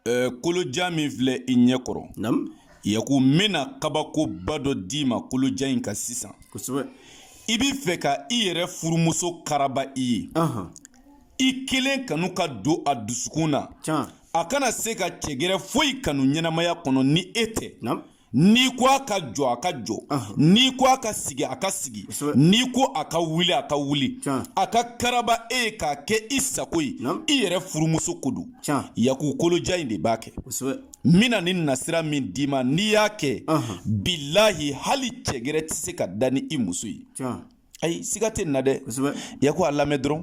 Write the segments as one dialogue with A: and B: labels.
A: Eh, kolojan min filɛ i ɲɛ kɔrɔ yaku n bɛna kabakoba dɔ d'i ma kolojan in ka sisan i b'i fɛ ka i yɛrɛ furumuso karaba i ye i kelen kanu ka don a dusukun na a kana se ka cɛ gɛrɛ foyi kanu ɲɛnamaya kɔnɔ ni e tɛ N'i ko a ka jɔ a ka jɔ n'i ko a ka sigi a ka sigi n'i ko a ka wuli a ka wuli a ka karaba e ye k'a kɛ i sago ye i yɛrɛ furumuso ko don yaku kolojan in de b'a kɛ n bɛna nin nasira min d'i ma n'i y'a kɛ bilahi hali cɛ gɛrɛ tɛ se ka da ni i muso ye ayi siga tɛ nin na dɛ yaku a lamɛn dɔrɔn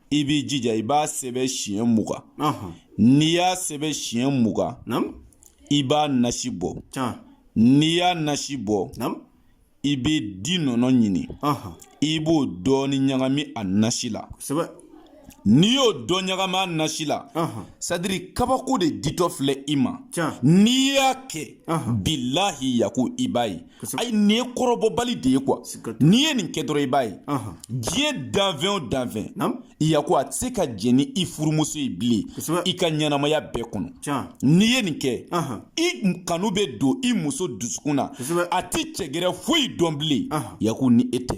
A: i b'i jija i b'a sɛbɛ siɲɛ mugan n'i y'a sɛbɛ siɲɛ mugan i b'a nasi bɔ n'i y'a nasi bɔ i bɛ di nɔnɔ ɲini i b'o dɔɔni ɲagami a nasi la n'i y'o dɔ ɲagami a nasi la c'est-à-dire kabako de ditɔ filɛ i ma n'i y'a kɛ bilahi yaku i b'a ye ayi nin ye kɔrɔbɔbali de ye quoi n'i ye nin kɛ dɔrɔn i b'a ye diɲɛ danfɛn o danfɛn yaku a tɛ se ka jɛn ni i furumuso ye bilen i ka ɲɛnamaya bɛɛ kɔnɔ n'i ye nin kɛ i kanu bɛ don i muso dusukun na a tɛ cɛ gɛrɛ foyi dɔn bilen yaku ni e tɛ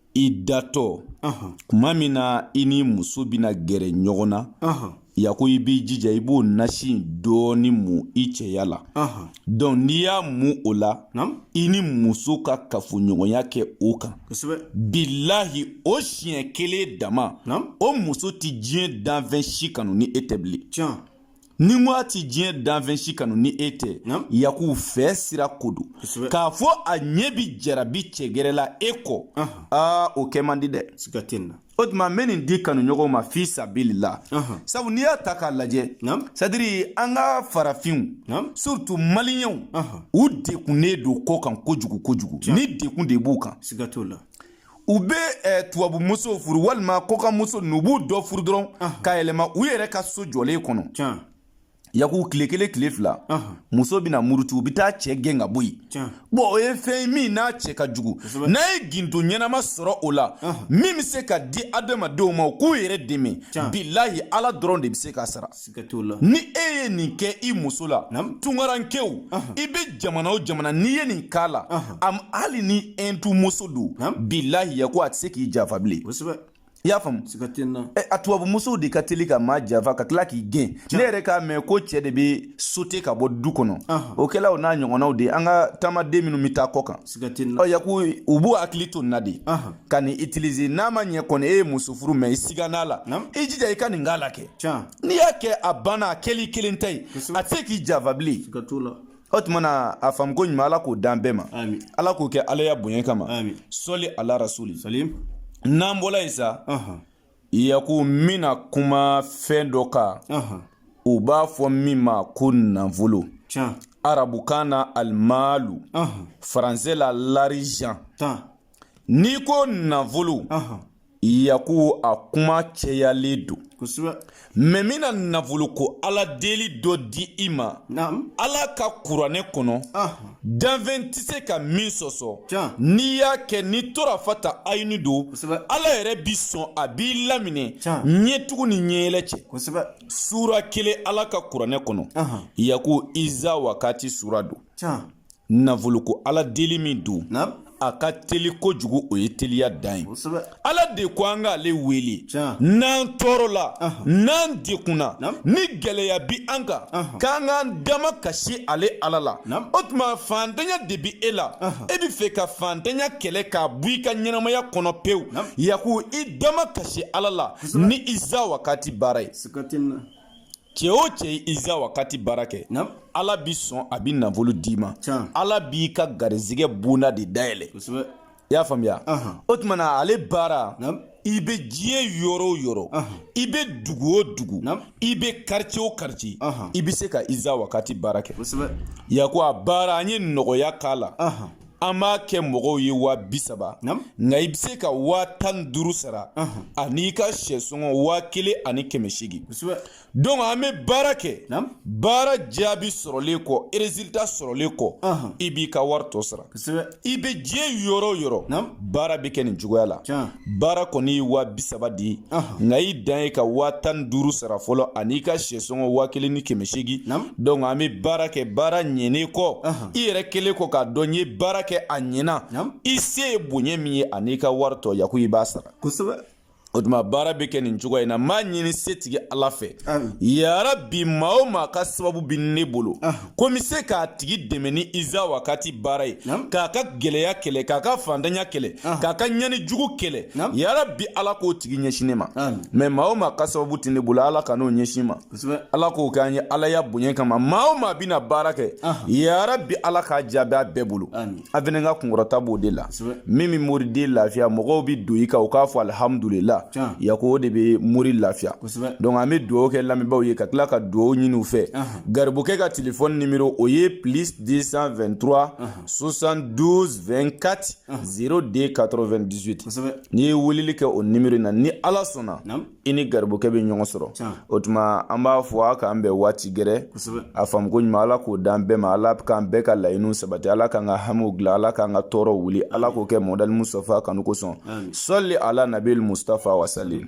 A: i datɔ kuma min na i ni muso bɛna gɛrɛ ɲɔgɔn na yaku i b'i jija i b'o nasi dɔɔni mu i cɛya la donc n'i y'a mu o la i ni muso ka kafoɲɔgɔnya kɛ o kan bilahi o siɲɛ kelen dama o muso tɛ diɲɛ danfɛn si kanu ni e tɛ bilen ni ko a ti diɲɛ danfɛn si kanu ni e tɛ yaku fɛ sira ko don k'a fɔ a ɲɛ bi jarabi cɛ gɛrɛ la e kɔ aa o kɛ man di dɛ o tuma n bɛ nin di kanuɲɔgɔnw ma fi sabili la sabu n'i y'a ta k'a lajɛ c'est-à-dire an ka farafinw surtout maliyɛnw u degunnen don kɔkan kojugu kojugu ni degun de b'u kan u bɛ eh, tubabu muso furu walima kɔkan muso n'u b'u dɔ furu dɔrɔn ka yɛlɛma u yɛrɛ ka so jɔlen kɔnɔ yaku tile kelen tile fila muso bɛna murutu u bɛ taa cɛ gɛn ka bɔ yen bon o ye fɛn ye min n'a cɛ ka jugu n'a ye gindo ɲɛnama sɔrɔ o la min bɛ se ka di adamadenw ma u k'u yɛrɛ dɛmɛ bilahi ala dɔrɔn de bɛ se k'a sara ni e ye nin kɛ i muso la tungarankɛw i bɛ jamana o jamana n'i ye nin k'a la hali ni ɛntu muso don bilahi yaku a tɛ se k'i janfa bilen i y'a faamu a tubabu musow de ka teli ka maa janfa ka tila k'i gɛn ne yɛrɛ k'a mɛn ko cɛ de bɛ sote ka bɔ du kɔnɔ o kɛla o n'a ɲɔgɔnnaw de an ka taamaden minnu bɛ taa kɔkan yaku u b'u hakili to nin na de ka nin utiliser n'a ma ɲɛ kɔni e ye muso furu mɛ i sigan'a la i jija i ka nin k'a la kɛ n'i y'a kɛ a banna a kɛli kelen ta ye a tɛ se k'i janfa bilen o tuma na a faamuko ɲuman ala k'o dan bɛɛ ma ala k'o kɛ alaya bonya kama sɔli ala rasuli n'an bɔla yen sa Yaku n bɛna kuma fɛn dɔ kan u b'a fɔ min ma ko nafolo arabukan na alimalu faransɛ la l'argent n'i ko nafolo yaku a kuma cɛyalen don mɛ n bɛna nafoloko ala deli dɔ di i ma ala ka kuranɛ kɔnɔ danfɛn tɛ se ka min sɔsɔ n'i y'a kɛ ni torafata ayini don ala yɛrɛ bi sɔn a b'i laminɛ ɲɛtugu ni ɲɛyɛlɛ cɛ sura kelen ala ka kuranɛ kɔnɔ yaku iza wakati sura don nafoloko ala deli min don a ka teli kojugu o ye teliya dan ye ala de ko an k'ale wele n'an tɔɔrɔla n'an dekunna ni gɛlɛya bi an kan k'an k'an damakasi ale ala la o tuma fantanya de bi e la e bɛ fɛ ka fantanya kɛlɛ k'a bɔ i ka ɲɛnamaya kɔnɔ pewu yaku i damakasi ala la ni iza wakati baara ye cɛ o cɛ ye iza wakati baara kɛ ala bi sɔn a bi nafolo d'i ma ala b'i ka garizigɛ bonda de dayɛlɛ i y'a faamuya o tuma na ale baara i bɛ diɲɛ yɔrɔ o yɔrɔ i bɛ dugu o dugu i bɛ quartier o quartier i bɛ se ka iza wakati baara kɛ yaku a baara an ye nɔgɔya k'a la an b'a kɛ mɔgɔw ye waa bi saba nka i bɛ se ka waa tan ni duuru sara an'i ka sɛsɔngɔ waa kelen ani kɛmɛ seegin donc an bɛ baara kɛ baara jaabi sɔrɔlen kɔ résultat sɔrɔlen kɔ i b'i ka wari tɔ sara i bɛ diɲɛ yɔrɔ o yɔrɔ baara bɛ kɛ nin cogoya la baara kɔni ye waa bi saba di nka i dan ye ka waa tan ni duuru sara fɔlɔ an'i ka sɛsɔngɔ waa kelen ni kɛmɛ seegin donc an bɛ baara kɛ baara ɲɛnen kɔ i yɛrɛ kelen kɔ k'a dɔn n ye baara kɛ a ɲɛna i se ye bonya min ye an'i ka wari tɔ yaku i b'a sara o tuma baara bɛ kɛ nin cogoya in na m'a ɲini setigi ala fɛ yarabi maa o maa ka sababu bɛ ne bolo ko n bɛ se k'a tigi dɛmɛ ni iza wakati baara ye k'a ka gɛlɛya kɛlɛ k'a ka fantanya kɛlɛ k'a ka ɲani jugu kɛlɛ yarabi ala k'o tigi ɲɛsin ne ma mɛ maa o maa ka sababu tɛ ne bolo ala kan'o ɲɛsin n ma ala k'o kɛ an ye ala ya bonya kama maa o maa bɛna baara kɛ ya rabi ala k'a jaabi a bɛɛ bolo an fɛnɛ ka kunkɔrɔta b'o de la min bɛ mori de lafiya mɔgɔw bɛ don i kan u k'a fɔ alihamudulila yako o de bɛ mori lafiya donc an bɛ dugawu kɛ lamɛnbaaw ye ka tila ka dugawu ɲini u fɛ garibukɛ ka telefɔni nimero o ye plus 223 72 24 02 98 n'i ye weleli kɛ o nimero in na ni ala sɔnna i ni garibukɛ bɛ ɲɔgɔn sɔrɔ o tuma an b'a fɔ a k'an bɛn waati gɛrɛ a faamuko ɲuman ala k'o d'an bɛɛ ma ala k'an bɛɛ ka laɲiniw sabati ala k'an ka hamiw dilan ala k'an ka tɔɔrɔw wuli ala k'o kɛ mɔdali mustafa kanu kosɔn sɔli ala nabil mustafa wasalim